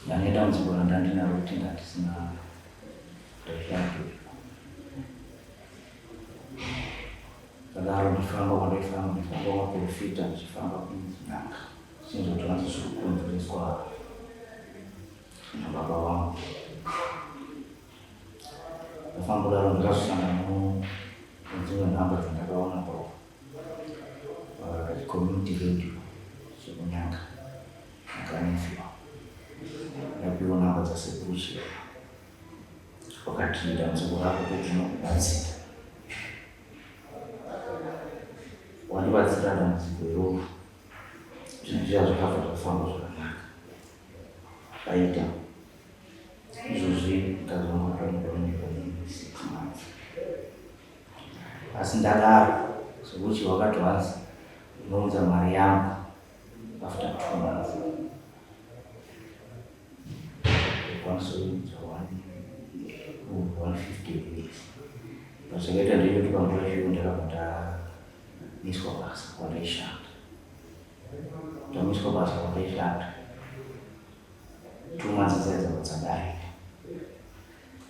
ndandidambudziko randandinaro kuti ndandisina ndazvake ndadaro ndifamba kwandaifamba ndifamba kwaprofita ndichifamba kunyanga chinzotora ndizviri kukonzereswa nababa wangu Ndafambura ndakasangana nedzimwe nhamba dzandakaona pa uh, community radio zvekunyanga ndakanefiwa ndapiwa nhamba dzasekuru zviya wakati dambudziko rako kuti unokubatsira wandibatsira dambudziko iroro zvinhu zviya zvakabva zvafamba zvakanaka Paita izvozvi mukadzi wangu akamugoneka six months asi ndadaro sokuti wakati wanzi unounza mari yangu after two months kwanisa kuunza one one fifty days pazvakaita ndinotuka nguva zviyo ndakabva ndamiswa basa kwandaishanda Tamiswa basa kwakaishanda tuma dzidzaidzo dzadarika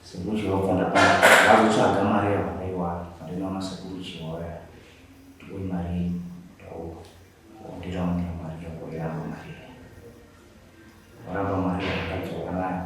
sekuru chiwabva ndapana vazotsvaga mari yavakaiwana ndinoona sekuru chiwaya ndikoi mari yenyu ndauka wandiraundira mari yako yavo mari yayo varamba mari yakadzoka nayo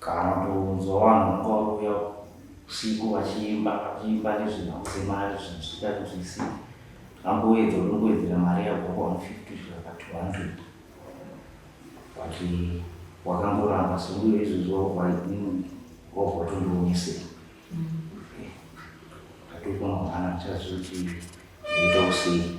Kana kutonzwa vanhu vanga vauya usiku vachiimba vachiimba nezvenhau dzemari zvinhu zvichita kuti zvisike amboedza unongoedzera mari yabva pa150 kusvika pa200 but wakangoramba so uye izvozvi wakuvainini wabva watondionesei tatoipa mangwana tichazoti ndoita usei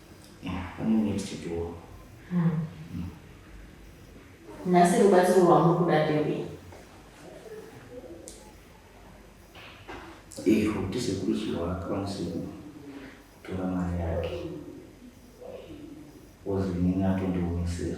nhasi rubatsiro rwamuri kuda ndeve izvo kuti sekuru chiwa akwanise kutora mari yake ozi nini atondionesera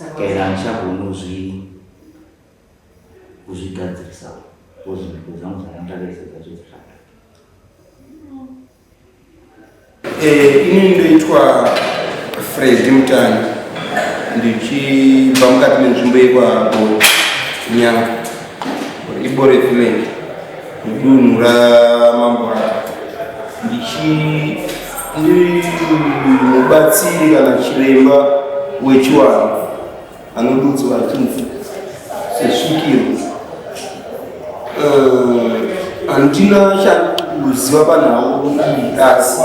and handichagonozvi kuzvigadzirisa because mhiko zangu dzandandakaisa dzacho dzakada eh, ini ndoitwa fredi mutani ndichibva mukati menzvimbo yekwago nyanga ibore village mudunhu raMamborata ndichiri mubatsiri kana chiremba wechiwanhu anodudzwa achinzi sesvikiro eh, handina uh, chakuziva panhau asi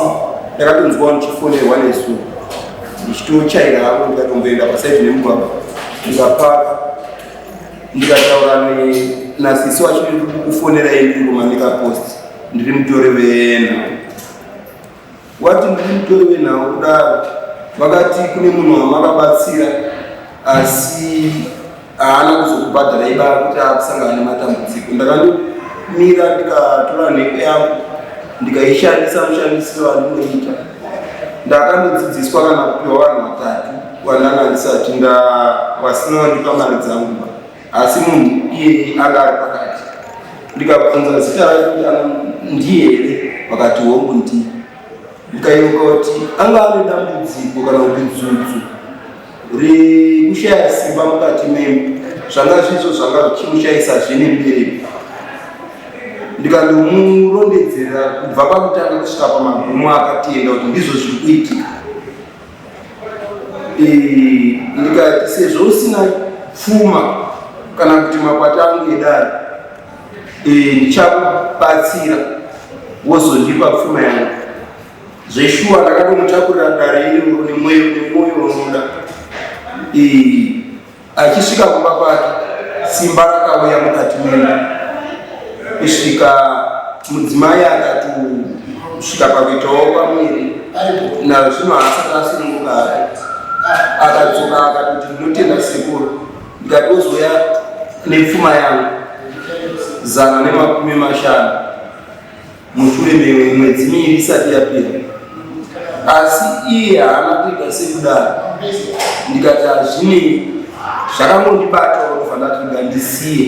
ndakatonzwa ndichifonerwa nesu ndichitochaira havo ndikatomboenda pasaidi nemugwagwa ndikapaka ndikataura nasisi wacho ndiri kukufonera yendingoma ndikapost ndiri mutori venhau wati ndiri mutori venhau kudaro vakati kune munhu wamakabatsira asi haana kuzokubhadhara iba kuti akusangana nematambudziko ndakandomira ndikatora nheko yangu ndikaishandisa mushandisiro wandinoita ndakanodzidziswa kana kupiwa vanhu vatatu vandanga ndisati nda vasina vandipa mari dzangu asi munhu iye anga ari pakati ndikabvunza zita rake kuti ana ndiye here vakati hongu ndii ndikayeuka kuti anga ane dambudziko kana kuti dzudzu rekushaya simba mukati memu zvanga zvizvo zvanga zvichimushaisa zvine mberi ndikandomurondedzera kubva pakutanga kusvika pamagumo akatenda kuti ndizvo zviri kuitika ndikati sezvo usina pfuma kana kuti makwata angu edari ndichakubatsira wozondipa pfuma yangu Zveshuwa ndakatomutakura dare iri mune mweyo nemwoyo unoda. Achisvika kumba kwake simba rakauya mukati mena kusvika mudzimai akati kusvika pakuitawo pamwiri nazvino haasati asunungukare akadzoka akatoti ndinotenda sekuru ndikatozoya nepfuma yangu zana nemakumi mashanu mushure memwedzi miiri isati yapera asi iye haana kuita sekudaro ndikati hazvinei zvakangondibata kufanatiga ndisiye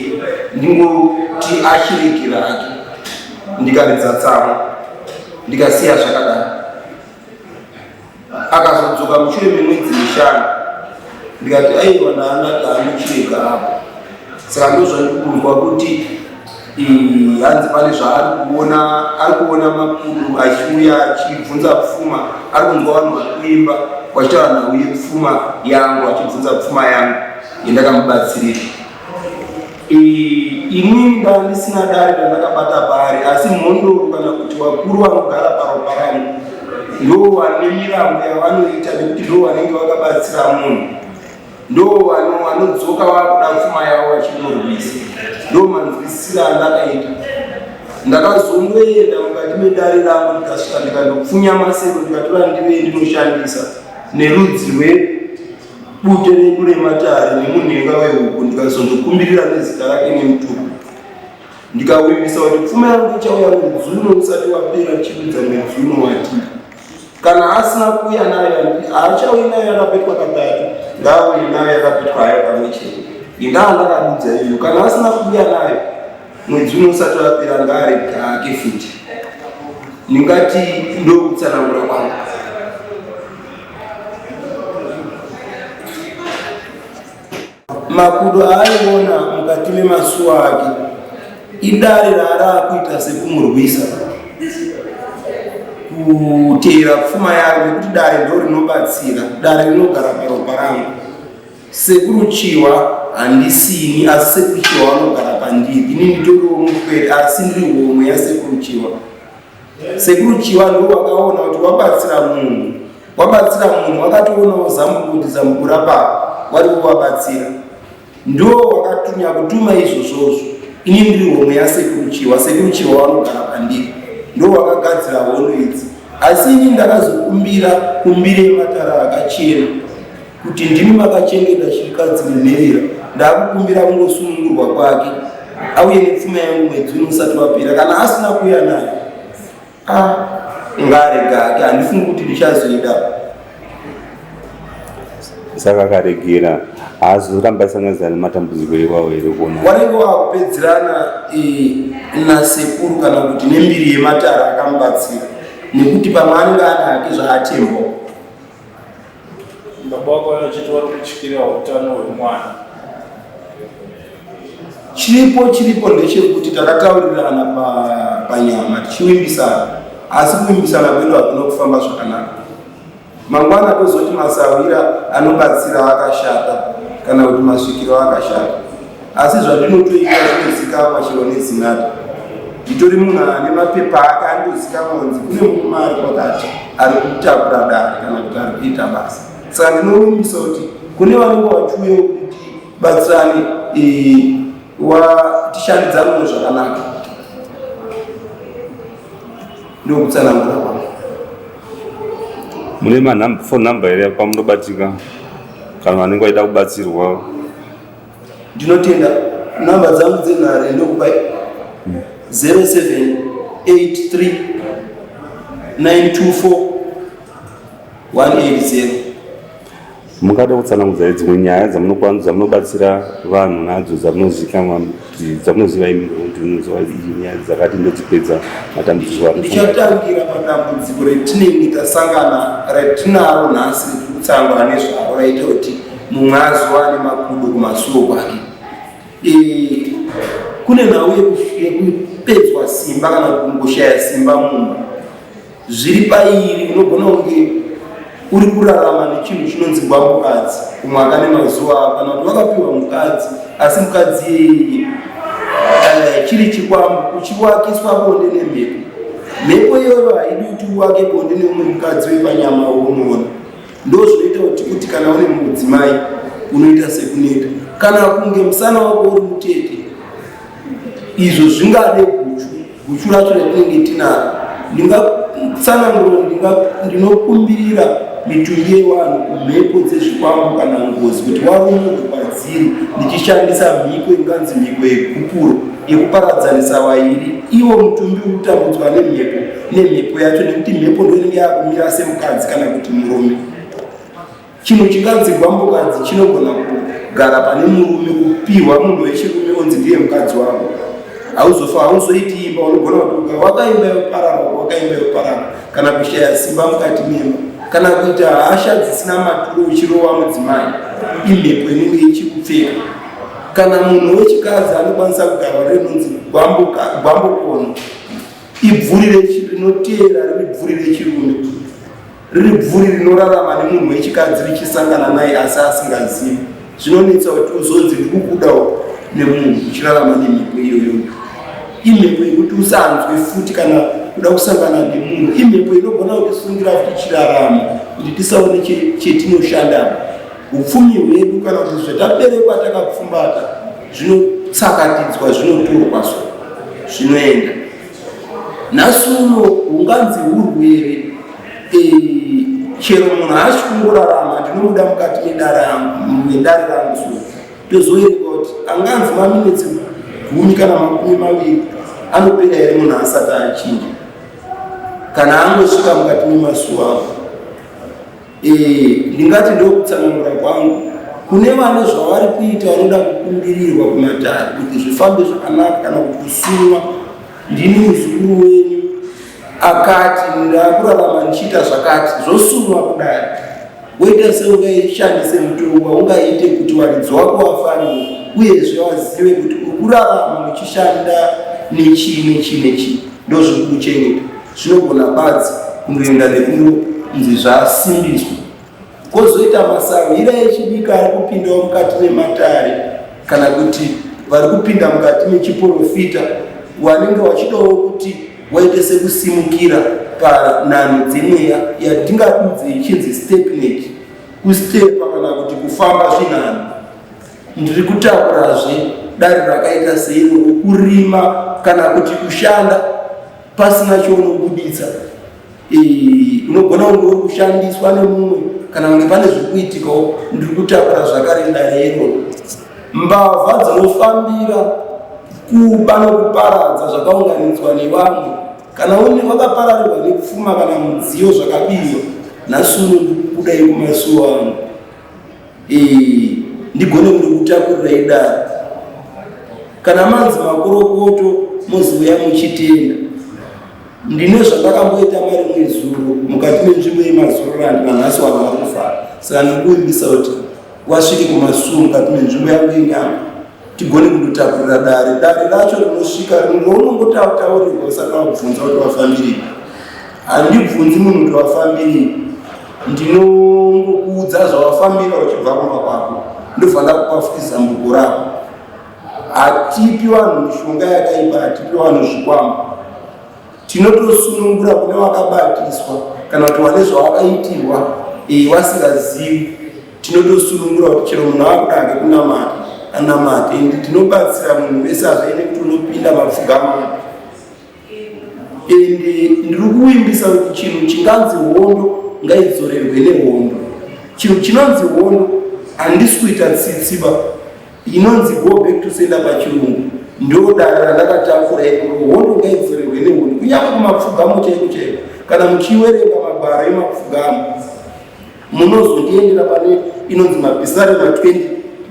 ndingoti achiregera ake ndikaridza tsamwa ndikasiya zvakadaro akazodzoka mushure memwedzi mishanu ndikati aiwa ndaanati anochireka apo saka ndozvandikunzwa kuti hanzi pane zvaari kuona ari kuona makuru achiuya achibvunza pfuma ari kunzwa vanhu vari kuimba wachitaura nhau yepfuma yangu achibvunza pfuma yangu yendakamubatsirira Inini ndanga ndisina dare randakabata paari, asi mhondoro kana kuti vakuru vanogara paropa rangu ndoo vane mirambo yavanoita nekuti ndoo vanenge vakabatsira munhu, ndoo vanodzoka vakuda pfuma yavo vachimurwisa. Ndoo manzwisisiro andakaita. Ndakazongoenda mukati medare rangu ndikasvika ndikandopfunya masero ndikatora ndive ndinoshandisa nerudzi rwe Bute redu rematare nemunhenga wehuku ndikazondokumbirira nezita rake nemutuku ndikawimbisa kuti pfuma yangu ichauya mwedzi uno usati wapera chiudza mwedzi uno wati kana asina kuuya nayo haachauyi nayo yakapetwa katatu ngaauye nayo yakapetwa hayo pamwe chete indaa ndakadudza iyo kana asina kuuya nayo Mwedzi uno usati wapera ngari kake futi. Ndingati ndokutsanangura kwangu. Makudo aaiona mukati memasuwa ake idare raaraakuita sekumurwisa kuteera pfuma yaro nekuti dare ndo rinobatsira dare rinogara paropa rangu Sekuru Chiwa handisini asi Sekuru Chiwa vanogara pandiri. Ini nditoriwo mupwere asi ndiri homwe yaSekuru Chiwa. Sekuru Chiwa ndiwo vakaona kuti wabatsira munhu wabatsira munhu wakatoonawo zambuko kuti zambuko rapapa wari kuvabatsira ndiwo wakatunya kutuma izvozvozvo ini ndiri homwe yasekuru Chiwa. Sekuru Chiwa vanogara pandiri ndiwo vakagadzira hondo idzi asi ini ndakazokumbira kumbire matara akachena kuti ndimi makachengeta chirikadzi munherera ndakukumbira kungosunungurwa kwake auye nepfuma yangu mwedzi uno usati wapera kana asina kuuya nayo ah, ngarega hake handifungi kuti ndichazoida saka akaregera haazoramba sanganisa nematambudziko iwawo here kuona wanenge wakupedzerana eh, nasekuru kana kuti nembiri yematara akamubatsira nekuti pamwe anenge ana hake zvaatembo Baba wako vachiti vari kutyira utano hwemwana. Chiripo chiripo ndechekuti takataurirana panyama tichivimbisana asi kuvimbisana kwedu hakuna kufamba zvakanaka. Mangwana tozoti masahwira anobatsira akashata kana kuti masvikiro akashata. Asi zvandinotoita zvinozikamwa chero nezinata. Nditori munhu ane mapepa ake andozikamwa kunzi kune murume ari kwakati ari kutakura dare kana kuti ari kuita basa. Saka ndinorumbisa kuti kune vanenge vachiuya kuti batsirane eh, tishandidzanoo zvakanaka ndokutsanangura kwavo mune mafon number here kwamunobatika kana vanenge vaida kubatsirwa ndinotenda namba dzangu dzenhare ndokupa 0783924180 mungada kutsanangudza dzimwe nyaya dzamunokwana dzamunobatsira vanhu nadzo dzamunozikanwa dzamunoziva imi kuti unoziva nyaya dzakati ndedzipedza matambudziko andichatangira padambudziko retinenge tasangana retinaro nhasi rekutsangwa nezvaro raita kuti mumwe azowa ane makudo kumasuwo kwake eh, kune nhau yekupedzwa simba kana kungoshaya simba mumba zviri pairi unogona kunge uri kurarama nechinhu chinonzi gwamukadzi umwe akane mazuva avo kana kuti vakapiwa mukadzi asi mukadzi iyeye eh, chiri chikwambo uchiwakiswa bonde nemhepo mhepo iyoyo haidi kuti uwake bonde neumwe mukadzi wepanyama wounoona ndozvinoita kuti kuti kana une mudzimai unoita sekuneta kana kunge musana wako uri mutete izvo zvingade guchu guchu racho ratinenge tinaro ndingatsanangura ndinokumbirira mitumbi yevanhu kumhepo dzezvikwambo kana ngozi kuti warumunhu kwadziri ndichishandisa mhiko inganzi mhiko yekupuro yekuparadzanisa vairi iwo mutumbi utambudzwa nemhepo nemhepo yacho nekuti mhepo ndoinenge yakumira semukadzi kana kuti murume chinhu chinganzi gwambokadzi chinogona kugara pane murume kupihwa munhu wechirume onzi ndiye mukadzi wavo hauzofa hauzoiti imba unogona kutuka wakaimba yoparara wakaimba yoparara kana kushaya simba mukati mema kana kuita hasha dzisina maturo uchirova mudzimai imhepo inenge ichikupfeka kana munhu wechikadzi anokwanisa kugarwa renonzi gwambokono Ibvuri rinoteera riri bvuri rechirume, riri bvuri rinorarama nemunhu wechikadzi richisangana naye asi asingazivi. Zvinonetsa kuti uzonzi ndikukudawo nemunhu uchirarama nemhepo iyoyo. Imhepo yekuti usanzwe futi kana kuda kusangana nemunhu. Imhepo inogona kutisungira kuti chirarama kuti tisaone chetinoshanda Upfumi hwedu kana kuti zvataberekwa takapfumbata zvinotsakatidzwa zvinoturwa so zvinoenda nhasi uno hunganzi hurwere eh, chero munhu haasi kungorarama ndinomuda mukati medare rangu so tozoerekwa kuti anganzi maminitsi gumi kana makumi maviri anopera here munhu asati achinja kana angosvika mukati memazuva avo Eh, ndingati ndokutsanangura kwangu kune vane zvavari kuita vanoda kukumbirirwa kumatare kuti zvifambe zvakanaka kana kuti kusumwa ndini muzukuru wenyu akati ndakurarama ndichiita zvakati zvosumwa kudai woita seungaishandise mutongo waungaite kuti waridzi wako wafanire uyezve wazive kuti ukurarama uchishanda nechii nechii nechii ndozviri kuchengeta Zvinogona badzi kungoenda nekunonzi zvasimbiswa, kwozoita masahwira echidiki ari kupindawo mukati mematare kana kuti vari kupinda mukati mechiporofita wanenge wachidawo kuti waite sekusimukira panhanho dzemweya yatingadudze ichinzi stepnet kustepa kana kuti kufamba zvinhanho ndiri kutakurazve dare rakaita seiro kurima kana kuti kushanda pasina chounobuditsa unogona kunge uri kushandiswa nemumwe kana kunge pane zviri kuitikawo ndiri kutakura zvakare ndarero mbavha dzinofambira kuba nokuparadza zvakaunganidzwa nevamwe kana une wakapararirwa nekufuma kana mudziyo zvakabirwa nhasi uno ndiri kuda yekumasuwa ano ndigone kutakurira idaro kana manzi makorokoto moziuya muchitenda ndine zvandakamboita mari mwezuro mukati menzvimbo yemazururandi vanhasi wava kufara saka ndikuimbisa kuti wasvike kumasuo mukati menzvimbo yangu yenyango tigone kundotakurira dare dare racho rinosvika rinongotautaurirwa usati wakubvunza kuti wafambirei handibvunzi munhu kuti wafambirei ndinongokuudza zvawafambira uchibva kumba kwako ndofanira kupafukiza mbuko rako hatipi vanhu mishonga yakaipa hatipi vanhu zvikwama tinotosunungura kune wakabatiswa kana kuti wane zvawakaitirwa eh, wasingazivi Tinotosunungura kuti chero munhu akuda hake kunamata anamate ende tinobatsira munhu wese azvaine kuti unopinda mapfugama ende ndiri kuvimbisa kuti chinhu chinganzi hondo ngaidzorerwe nehondo chinhu chinonzi hondo handisi kuita tsitsiba inonzi go back to senda pachirungu ndodaro randakatakura ikoro hondo ngaidzorerwe nehondo kunyange kumapfugamo chaiko chaiko kana muchiwerenga magwaro emapfugamo munozoendera pane inonzi mapisarema 20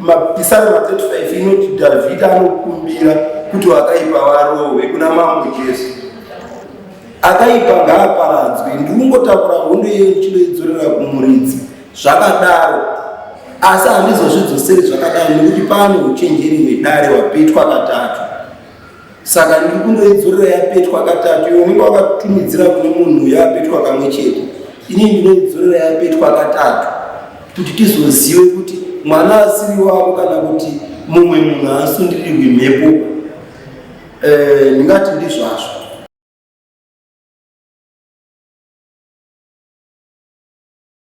mapisarema 35 inoti dhavhidhi anokumbira kuti vakaipa varohwe kuna mambo jesu akaipa ngaaparadzwe ndikungotakura hondo iye ndichinoidzorera kumuridzi zvakadaro asi handizozvidzoseri zvakadaro nekuti pane uchenjeri hwedare hwapetwa katatu saka ndiri kundoidzorera yapetwa katatu iwe unenge wakatumidzira kune munhu yapetwa kamwe chete ini ndinoidzorera yapetwa katatu kuti tizozive kuti mwana asiri wako kana kuti mumwe munhu aasundirirwi mhepo eh, ndingati ndizvazvo